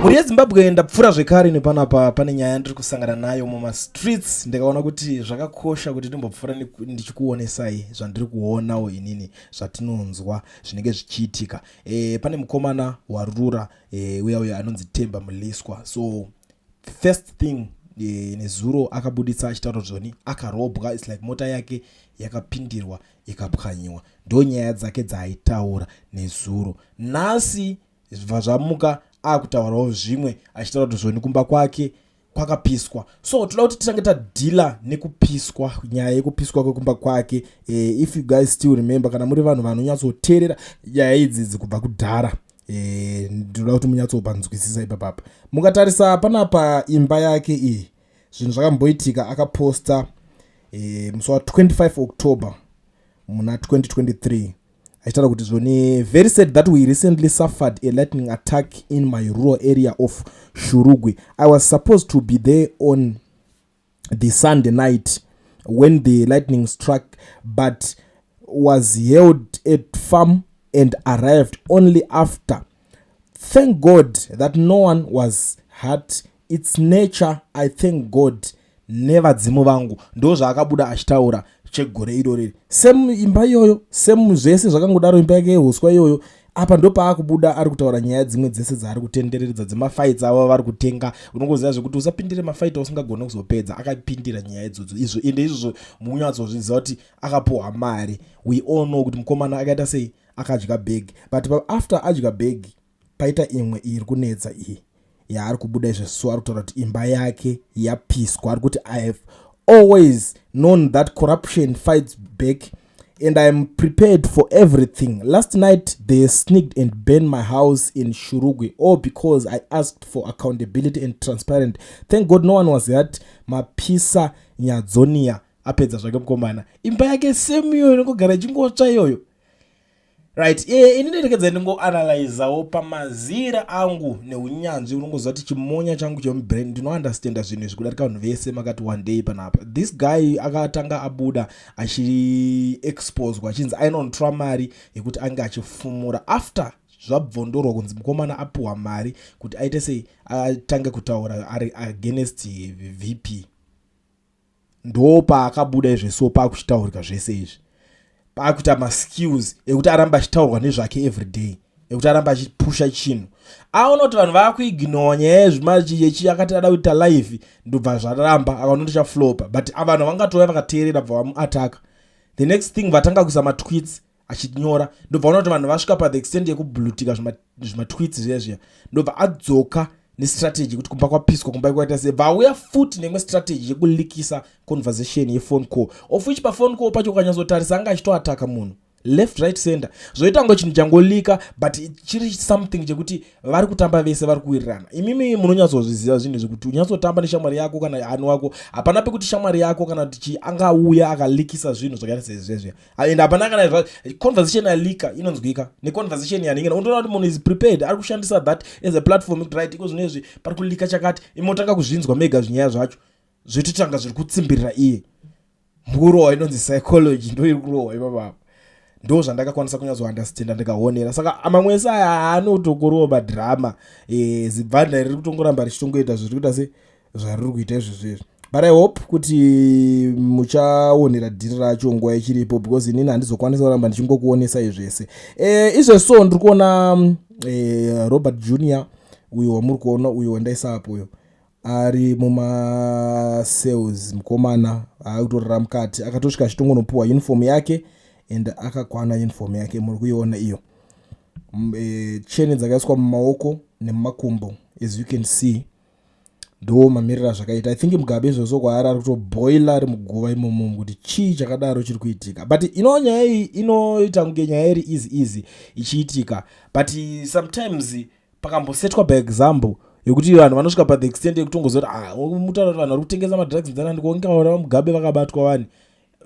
mhuri yezimbabwe ndapfuura zvekare nepanapa pane nyaya yandiri kusangana nayo mumastreets ndikaona kuti zvakakosha kuti ndimbopfuura ndichikuonesai zvandiri kuonawo inini zvatinonzwa zvinenge zvichiitika e, pane mukomana warura e, uya uya anonzi temba muliswa so the first thing eh, nezuro akabuditsa achitaura kuti zvoni akarobwa its like mota yake yakapindirwa ikapwanyiwa ndo nyaya dzake dzaaitaura nezuro nhasi zvibva zvamuka akutaurawo zvimwe achitaura kuti zvoni kumba kwake kwakapiswa so toda kuti titange tadhila nekupiswa nyaya yekupiswa kwekumba kwake e, if you guys still remember kana muri vanhu vanonyatsoteerera nyaya idzidzi kubva kudhara e, ndinoda kuti munyatsopanzwisisa ipapapa mukatarisa panapa imba yake iyi zvinhu zvakamboitika akaposta e, musi wa 25 october muna 2023 achitaura kuti zvoni very sad that we recently suffered a lightning attack in my rural area of shurugwi i was supposed to be there on the Sunday night when the lightning struck, but was held at farm and arrived only after. Thank God that no one was hurt. It's nature. I thank God. nevadzimu vangu ndo zvaakabuda achitaura chegore irori same imba iyoyo same zvese zvakangodaro imba yake yehuswa iyoyo apa ndopaakubuda ari kutaura nyaya dzimwe dzese dzaari kutendereredza dzemafights avo vari kutenga unongoziva zvekuti usapindire mafight ausingagone kuzopedza akapindira nyaya idzodzo izvo ende izvozvo munyatsozviziva kuti akapuhwa mari we all know kuti mukomana akaita sei akadya bhegi but after adya bhegi paita imwe iri kunetsa iyi yaari kubuda izvezvi so ari kutaura kuti imba yake yapiswa ari kuti i have always known that corruption fights back and iam prepared for everything last night they sneaked and burn my house in shurugwi all because i asked for accountability and transparent thank god no one was hurt mapisa nyadzonia apedza zvake mukomana imba yake semiyo inongogara ichingotsva iyoyo right e, ini nderekedza ndingoanalyzawo pamazira angu neunyanzvi unongoziva kuti chimonya changu chemubrain ndinounderstanda zvinhu izvi kudarika vanhu vese makati one day panapa this guy akatanga abuda achiexposwa achinzi ainontra mari yekuti ange achifumura after zvabvondorwa kunzi mukomana apiwa mari kuti aite sei atange kutaura ari against vp Ndopaakabuda izve so pakuchitaurika zvese izvi. Pakuita maskills ekuti aramba achitaurwa nezvake everyday ekuti aramba achipusha chinhu. Aona kuti vanhu vakuignowa nyaya yezvimachiyechi akati ada kuita live ndobva zvaramba akaona kuti chaflopa but avanhu vangatouya vakateerera bva vamuataka. The next thing vatanga kuisa matweets achinyora ndobva ona kuti vanhu vasvika pathe extent yekublutika zvimatwits zviya zviya ndobva adzoka nestrategy yekuti kumba kwapiswa kumba kwaita se vauya futi neimwe strategy yekulikisa conversation yefone call of which pafone call pacho ukanyatsotarisa anga achitoataka munhu left right center zvoita kunge chinhu changolika but chiri something chekuti vari kutamba vese vari kuwirirana imimi munonyatsozviziva zvinhu zvekuti unyatsotamba neshamwari yako kana ani wako hapana pekuti shamwari yako kana kuti chi angauya akalikisa zvinhu zvakaita sezvezviya and hapana kana zva conversation yalika inonzwika neconversation yaningina unotoona kuti munhu is prepared ari kushandisa that as a platform ekuti right iko zvino izvi pari kulika chakati imotanga kuzvinzwa mega zvinyaya zvacho zvitotanga zviri kutsimbirira iye mukurohwa inonzi psychology ndo iri kurohwa ipapapa ndo zvandakakwanisa kunyazounderstanda ndikaonera saka amamwe ese aya anotongorowa madhirama e, zibvanda riri kutongoramba richitongoita zvirikuita se zvariri kuita izvezvi izvi but i hope kuti muchaonera dhiri racho nguva ichiripo because inini handizokwanisa kuramba ndichingokuonesai zvese e, izve so ndiri kuona e, robert junior uyo wamuri kuona uyo wandaisa apo uyo ari mumasales mukomana akutorara mukati akatosvika achitongonopiwa uniform yake and akakwana uniform yake muri kuiona iyo e, cheni dzakaiswa mumaoko nemumakumbo as you can see ndo mamiriro azvakaita i think mugabe izvozvo kwaari ari kutoboila ari muguva imomo kuti chii chakadaro chiri kuitika but ino nyaya iyi inoita kunge nyaya iri easy easy ichiitika but sometimes pakambosetwa by example yekuti vanhu vanosvika pathe extent yekutongozoti ah, mutaura kuti vanhu vari kutengesa madrugs ndanani konge vaona vamugabe vakabatwa vani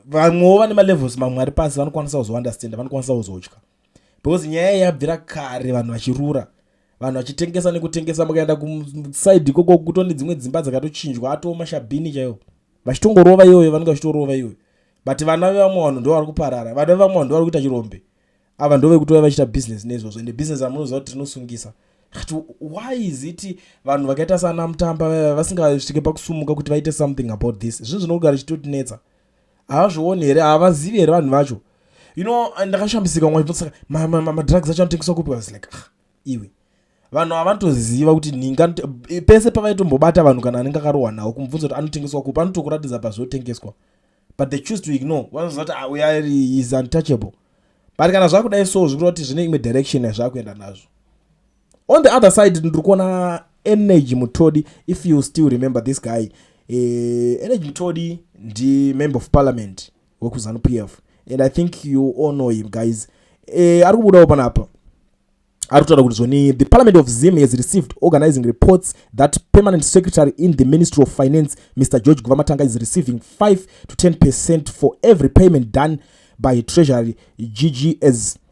vamwewo vane malevels mamwe ari pasi vanokwanisa kuzounderstanda vanokwanisa kuzotya because nyaya iyi yabvira kare vanhu vachirura vanhu vachitengesa nekutengesa mukaenda kusaidi ikoko kuto nedzimwe dzimba dzakatochinjwa atoo mashabhini chaiwo vachitongorova iyoyo vanenge vachitorova iyoyo but vana vevamwe vanhu ndo vari kuparara vana vevamwe vanhu ndo vari kuita chirombe ava ndo vekutova vachiita business neizvozvo ende business amunoziva kuti rinosungisa kti why is it vanhu vakaita sana mutamba vasingasvike pakusumuka kuti vaite something about this zvinhu zvinogara chitotinetsa havazvioni here havazivi here vanhu vacho you know ndakashambisika mwa chibvunza saka madrugs acho anotengeswa kupi was like ah iwe vanhu havatoziva kuti ninga eh, pese pavaitombobata vanhu kana anenge akarohwa nawo kumubvunza kuti anotengeswa kupi anotokuratidza pazvotengeswa but they choose to ignore vanoziva kuti ah, uya ari is untouchable but kana zvakudai so zvikureva kuti zvine imwe direction yazvakuenda nazvo on the other side ndiri kuona energy mutodi if you still remember this guy eh, energy mutodi ndi member of parliament wekuzanu p f and i think you all know him guys eh, ari kubudawo panapa ari kutaura kuti zvoni the parliament of zim has received organizing reports that permanent secretary in the ministry of finance mr george guvamatanga is receiving 5 to 10 percent for every payment done by treasury ggs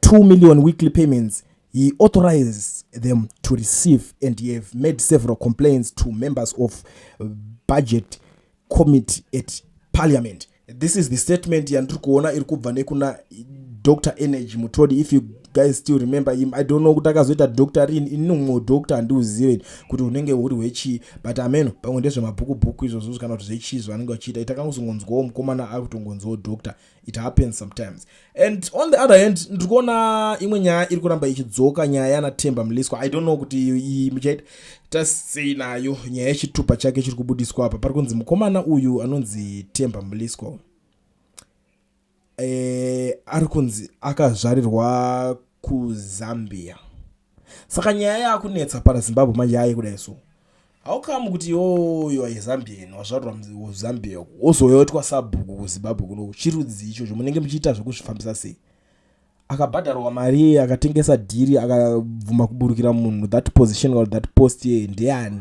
2 million weekly payments he authorized them to receive and he have made several complaints to members of budget committee at parliament this is the statement yandiri kuona iri kubva nekuna dr energy mutodi if you guys still remember him i don't know kuti akazoita dr rin ini umwe dr handiuzive kuti unenge huri hwechii but ameno pamwe ndezvemabhuku bhuku izvozvo kana kuti zvechii zvavanenge vachiita itakangozongonzwawo mukomana akutongonzwawo dr it happens sometimes and on the other hand ndiri kuona imwe nyaya iri kuramba ichidzoka nyaya yana temba mliswa i don't know kuti iyi muchaita tasei nayo nyaya yechitupa chake chiri kubudiswa apa pari kunzi mukomana uyu anonzi temba mliswa e, ari kunzi akazvarirwa kuzambia saka nyaya yakunetsa pana zimbabwe manje yaye kudai so haukamu kuti yoyo aizambian wazvarwa zambia uku wozoyotwa sabhuku kuzimbabwe kuno chirudzi ichocho munenge muchiita zvekuzvifambisa sei akabhadharwa mari akatengesa dhiri akabvuma kuburukira munhu that position or that post ye ndeyani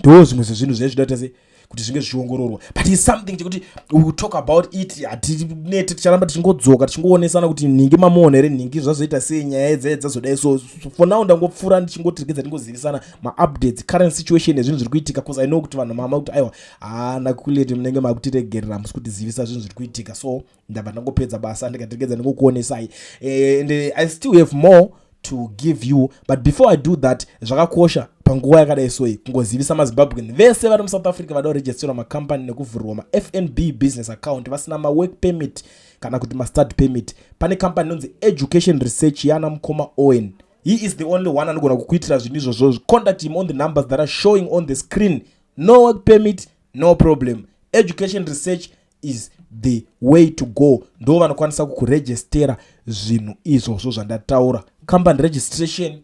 ndo zvimwe zvezvinhu zviya zvinoda tase kuti zvinge zvichiongororwa but is something chekuti we talk about it hatinete ticharamba tichingodzoka tichingoonesana kuti nhingi mamuona here nhingi zvazoita sei nyaya yedzaya dzazodai so for now ndangopfuura ndichingotiregedza tingozivisana maupdates current situation ezvinhu zviri kuitika bcause i know kuti vanhu mama kuti aiwa haana kulete munenge makutiregerera musi kutizivisa zvinhu zviri kuitika so ndabva ndangopedza basa ndikategedza ndikukuonesai eh, and i still have more to give you but before i do that zvakakosha panguva yakadai soyi kungozivisa mazimbabwean vese vari musouth africa vada kuregisterwa macompany nekuvhurwa mafnb business account vasina mawork permit kana kuti mastart permit pane company inonzi education research yana mukoma owen he is the only one anogona kukuitira zvinhu izvozvo contact him on the numbers that are showing on the screen no work permit no problem education research is the way to go ndo vanokwanisa kukurejistera zvinhu izvozvo zvandataura company registration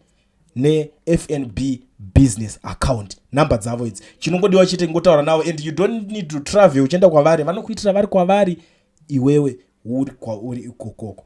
nefnb business account number dzavo idzi chinongodiwa chete ngotaura navo and you don't need to travel uchienda kwavari vanokuitira vari kwavari iwewe uri kwauri ikokoko